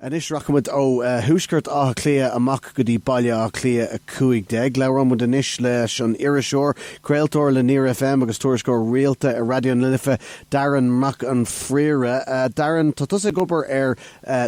Anois rachaimid ó thuaisceart Átha Cliath amach go dtí Baile Átha Cliath 15. Labhróimid anois leis an iriseoir, craoltóir le Near FM agus tuairisceoir rialta ag Raidió na Life, Darren Mac an Phríora. Darren, tá tusa ag obair ar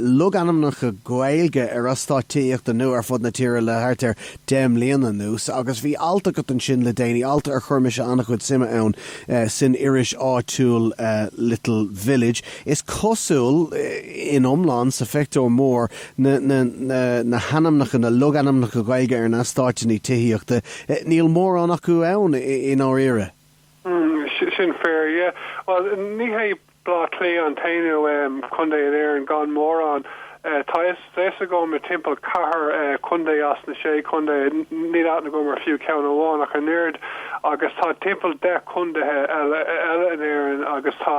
logainmneacha Gaeilge ar eastáit tithíochta nua ar fud na tíre le thart ar deich mbliana anuas agus bhí alt agat ansin le déanaí, alt ar chuir mise an-chuid suime ann, san iris áitiúil Little Village. Is cosúil, in iomlán, sa phictiúr mór, na hainmneacha, na logainmneacha Gaeilge ar na heastáit nua tithíochta. Níl mórán acu ann i ndáiríre. Sin fíor, yeah. Bhuel, ní hé Bleá Cliath an t-aon chontae in Éirinn gan mórán. Tá fhios agam timpeall ceathair contae as na sé contae, níl aithne agam ar fiú ceann amháin ach an oiread, agus tá timpeall deich contaetha eile in Éirinn agus tá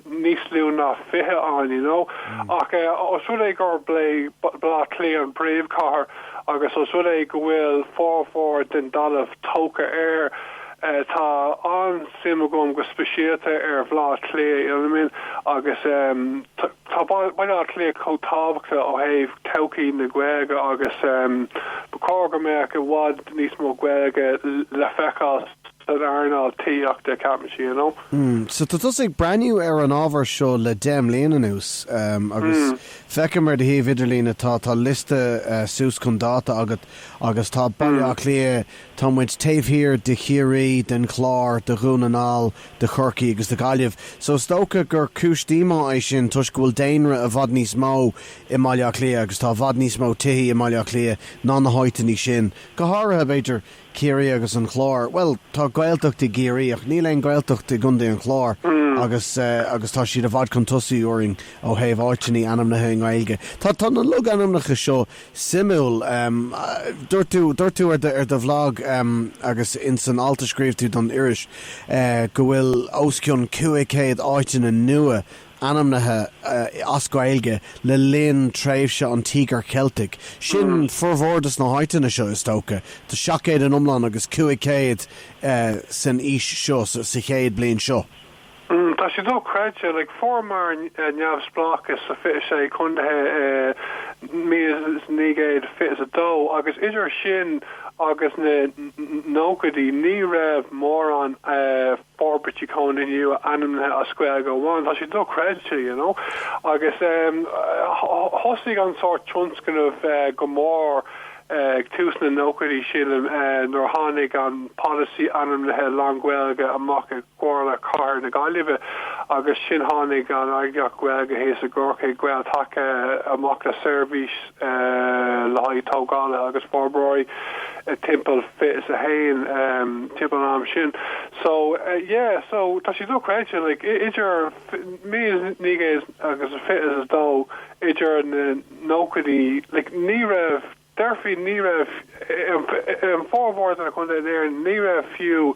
níos lú ná fiche ann, you know. Ach os rud é gur b'é Bleá Cliath an bpríomhchathair agus os rud é go bhfuil formhór den dalamh tógtha air, tá an-suim agam go speisialta ar Bhleá Cliath, you know what I mean, agus eh. Tá Baile Átha Cliath chomh tábhachtach ó thaobh todhchaí na Gaeilge agus ba chóir go mbeadh i bhfad níos mó Gaeilge le feiceáil san earnáil tithíochta, a cheap mise, you know. So tá tusa ag breathnú ar an ábhar seo le deich mbliana anuas agus feicim ar do shuíomh idirlín atá, tá liosta suas chun dáta agat agus tá Baile Átha Cliath, tá muid taobh thiar de Chiarraí, den Chlár, de Dhún na nGall, de Chorcaigh agus de Ghaillimh so is dócha gur cúis díomá é sin toisc go bhfuil daonra i bhfad níos mó i mBaile Átha Cliath agus tá i bhfad níos mó tithí i mBaile Átha Cliath ná na háiteanna sin, go háirithe, b'fhéidir, Ciarraí agus an Chlár. Bhuel, tá Gaeltacht i gCiarraí ach níl aon Ghaeltacht i gContae an Chláir agus, agus tá siad i bhfad chun tosaigh orainn ó thaobh áiteanna ainmnithe i nGaeilge. Tá, tá na logainmneacha seo suimiúil. Dúirt tú, dúirt tú ar do bhlag agus ins an alt a scríobh tú don iris go bhfuil os cionn 500 áiteanna nua ainmnithe as Gaeilge le linn tréimhse an Tíogair Cheiltigh. Sin formhór dos na háiteanna seo is dócha. Tá 700 in iomlán agus 500 san aois seo, sa chéad bliain seo. Tá sé dóchreidte, like, fuair muid neamhspleáchas sa 26 contaetha i 1922 agus idir sin agus na nóchaidí ní raibh mórán forbairtí chónaithe nua ainmnithe as Gaeilge amháin. Tá sé dóchreidte, you know, agus thosaigh an sórt tionscnaimh go mór ag tús na nóchaidí, sílim, nuair a tháinig an polasaí ainmnithe lán-Ghaeilge amach. gComhairle Chathair na Gaillimhe agus sin tháinig an eagraíocht Ghaeilge thíos i gCorcaigh, Gael-Taca, amach le seirbhís le haghaidh tógálaithe agus forbróirí timpeall fiche is a haon timpeall an am sin. So, yeah, so tá sé dochreidte, like, idir míle naoi gcéad agus fiche is a dó, idir na nóchaidí, like, ní raibh. déarfaí, ní raibh, i bhformhór de na contaetha in Éirinn, ní raibh fiú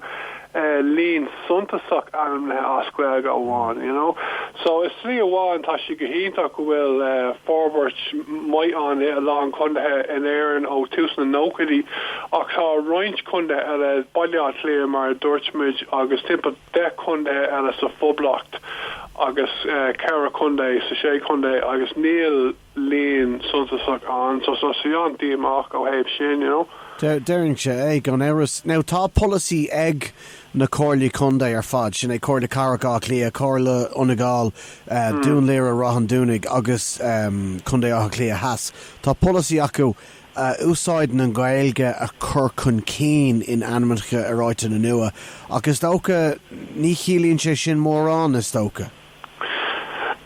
líon suntasach ainmnithe as Gaeilge amháin, you know. So, i slí amháin, tá sé go hiontach go bhfuil forbairt maith ann i a lán contaetha in Éirinn ó tús na nóchaidí ach tá roinnt contaetha eile, Baile Átha Cliath, mar a dúirt muid agus timpeall deich contaetha eile sa Phoblacht agus ceithre chontae sa Sé Chontae agus níl. líon suntasach ann so tá sé an-díomách ó thaobh sin, you know. Déarfainn sé é, gan amhras. Now tá polasaí ag na comhairlí contae ar fad, sin é Comhairle Cathrach Átha Cliath, Comhairle Fhine Gall, Dún Laoghaire, Ráth an Dúnaigh agus Contae Átha Cliath Theas, tá polasaí acu úsáid na Gaeilge a chur chun cinn in ainmneacha ar áiteanna nua ach is dócha ní chiallaíonn sé sin mórán, is dócha.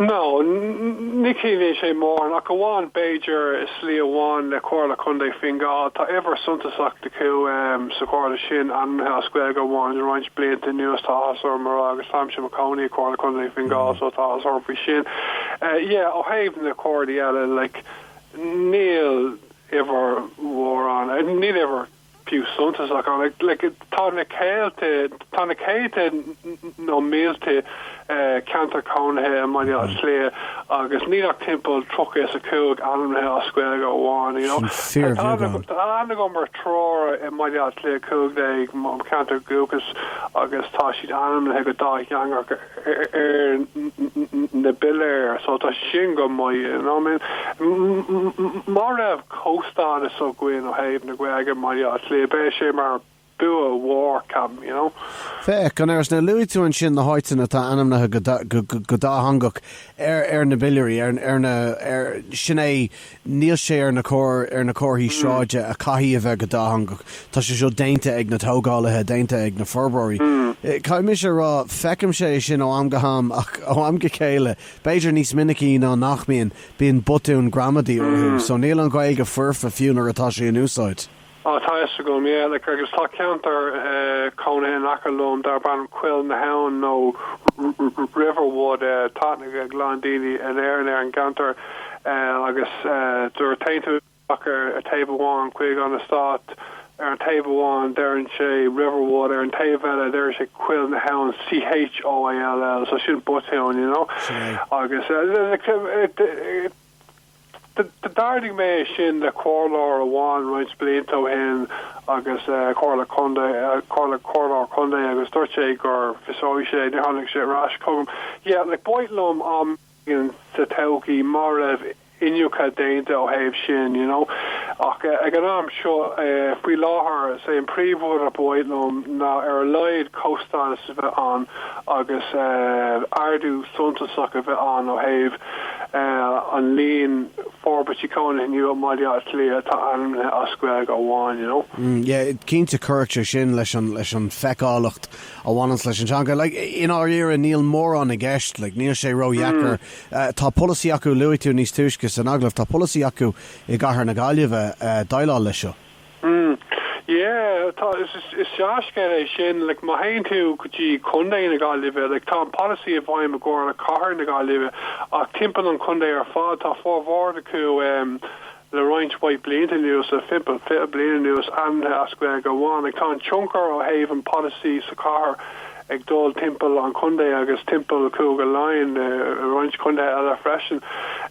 No, ní chiallaíonn sé mórán, ach amháin b'fhéidir i slí amháin le Comhairle Contae Fine Gall. Tá uimhir suntasach acu sa Chomhairle sin, ainmnithe as Gaeilge amháin. Le roinnt blianta anuas tá áthas orm a rá, agus táimse i mo chónaí i Comhairle Contae Fine Gall so tá áthas orm faoi sin. Yeah, ó thaobh na comhairlí eile, like, níl uimhir mórán, níl uimhir. fiú suntasach ann. Tá na céadta, tá na céadta nó mílte ceantar cónaithe i mBaile Átha Cliath agus níl ach timpeall tríocha is a cúig ainmnithe as Gaeilge amháin. Tá go mar tróir i mBaile Átha Cliath cúig déag mo cheantar dúchais agus tá siad ainmnithe go dátheangach. ar na piléir so tá sin go maith you know what I mean má raibh comhstádas againn ó thaobh na Gaeilge i mBaile Átha Cliath beidh sé mar bua mhór ceapaim you know. Féach, an iris, nuair a luaigh tú ansin na háiteanna atá ainmnithe go dátheangach ar na bpiléirí, ar na, ar, sin é, Níl sé ar na ar na comharthaí sráide a chaithfidh a bheith go dátheangach. Tá sé seo déanta ag na tógálaithe, déanta ag na forbróirí. Caithfidh mise a rá, feicim sé sin ó am go ham ach ó am go chéile, b'fhéidir níos minicí ná nach mbíonn, bíonn botúin ghramadaí orthu. So níl an Ghaeilge foirfe fiú nuair atá sí in úsáid. Á, tá a fhios agam, like, agus tá ceantar cónaithe in aice liom darb ainm Coill na hAbhann nó Riverwood, tá aithne ag a lán daoine in Éirinn ar an gceantar agus nuair a théann tú isteach ar thaobh amháin chuig an eastát ar an taobh amháin deireann sé Riverwood, ar an taobh eile deireann sé Coill na hAbhann, C-h-o-i-l-l, so sin botún, you know, agus, like, D'ardaigh mé sin le comhairleoir amháin roinnt blianta ó shin agus Comhairle Contae, Comhairleoir Contae agus dúirt sé go bhfiosródh sé, níor tháinig sé ar ais chugam. Yeah, like ba mhaith liom am éigin sa todhchaí má raibh iniúchadh déanta ó thaobh sin, you know. Ach ag an am seo, faoi láthair, is é an príomhrud ba mhaith liom ná ar a laghad comhstádas a bheith ann agus ardú suntasach a bheith ann ó thaobh an líon forbairtí cónaithe nua i mBaile Átha Cliath atá ainmnithe as Gaeilge amháin, you know. Yeah, cinnte chuirfeadh sé sin leis an feiceálacht a bhaineanns leis an teanga. Like, i ndáiríre, níl mórán i gceist, like, níl sé ródheacair. Tá polasaí acu, luaigh tú níos túisce san agallamh, tá polasaí acu i gcathair na Gaillimhe déileáil leis seo. Mm. Yeah. Tá, is, is, is dea-scéal é sin. Like, má théann tú go dtí Contae na Gaillimhe, like, tá an polasaí i bhfeidhm i gComhairle Chathair na Gaillimhe, ach timpeall an chontae ar fad, tá formhór acu um, le roinnt mhaith blianta anuas, le timpeall fiche bliain anuas, ainmnithe as Gaeilge amháin. Like, tá an tionchar ó thaobh an polasaí sa chathair ag dul timpeall an chontae agus timpeall Cúige Laighean, uh, roinnt chontae eile freisin.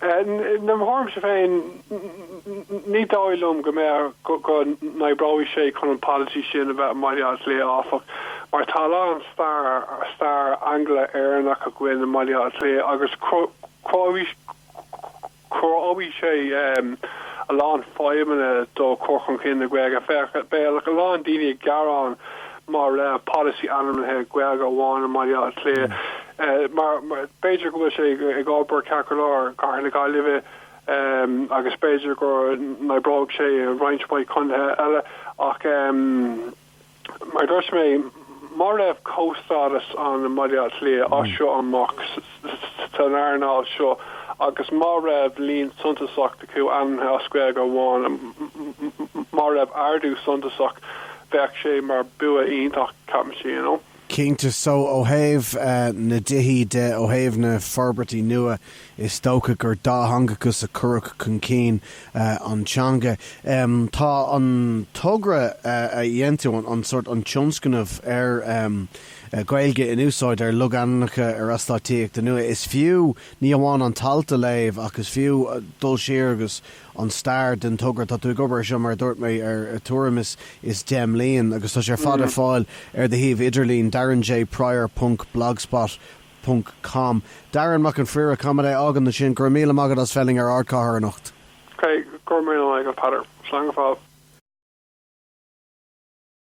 Uh, I mo thuairimse féin, Ní dóigh liom go mbeadh, go n-oibreodh sé chun an polasaí sin a bheith i mBaile Átha Cliath, áfach, mar tá a lán stair, stair Angla-Éireannach againn i mBaile Átha Cliath agus chruthódh sé a lán fadhbanna do chur chun cinn na Gaeilge. Féach, bheadh a lán daoine ag gearán má raibh polasaí ainmnithe Gaeilge amháin i mBaile Átha Cliath mar b'fhéidir go bhfuil sé ag obair ceart go leor i gcathair na Gaillimhe, agus b'fhéidir go n-oibreodh sé i roinnt mhaith contaetha eile ach, mar a dúirt mé, má raibh comhstádas ann i mBaile Átha Cliath as seo amach san earnáil seo agus má raibh líon suntasach acu ainmnithe as Gaeilge amháin, má raibh ardú suntasach, bheadh sé mar bua iontach, ceapaimse. Cinnte. So, ó thaobh na dtithí de, ó thaobh na forbairtí nua, is dócha gur dátheangachas a chuirfeadh chun cinn an teanga. Tá an togra a dhein tú, an sórt, an tionscnamh ar Ghaeilge in úsáid ar logainmneacha ar eastáit tithíochta nua, is fiú ní amháin an t-alt a léamh ach is fiú dul siar agus an stair den togra seo. Tá tú ag obair ar seo, mar a dúirt mé, ar thuairim is deich mbliana agus tá sé ar fad ar fáil ar do shuíomh idirlín, darrenjprior ponc blogspot ponc com. Darren Mac an Phríora, coimeádaí Gaeltacht 21? Go raibh míle maith agat as teacht ar Ardchathair anocht. Go raibh míle maith agat, Peadar. Slán go fóill.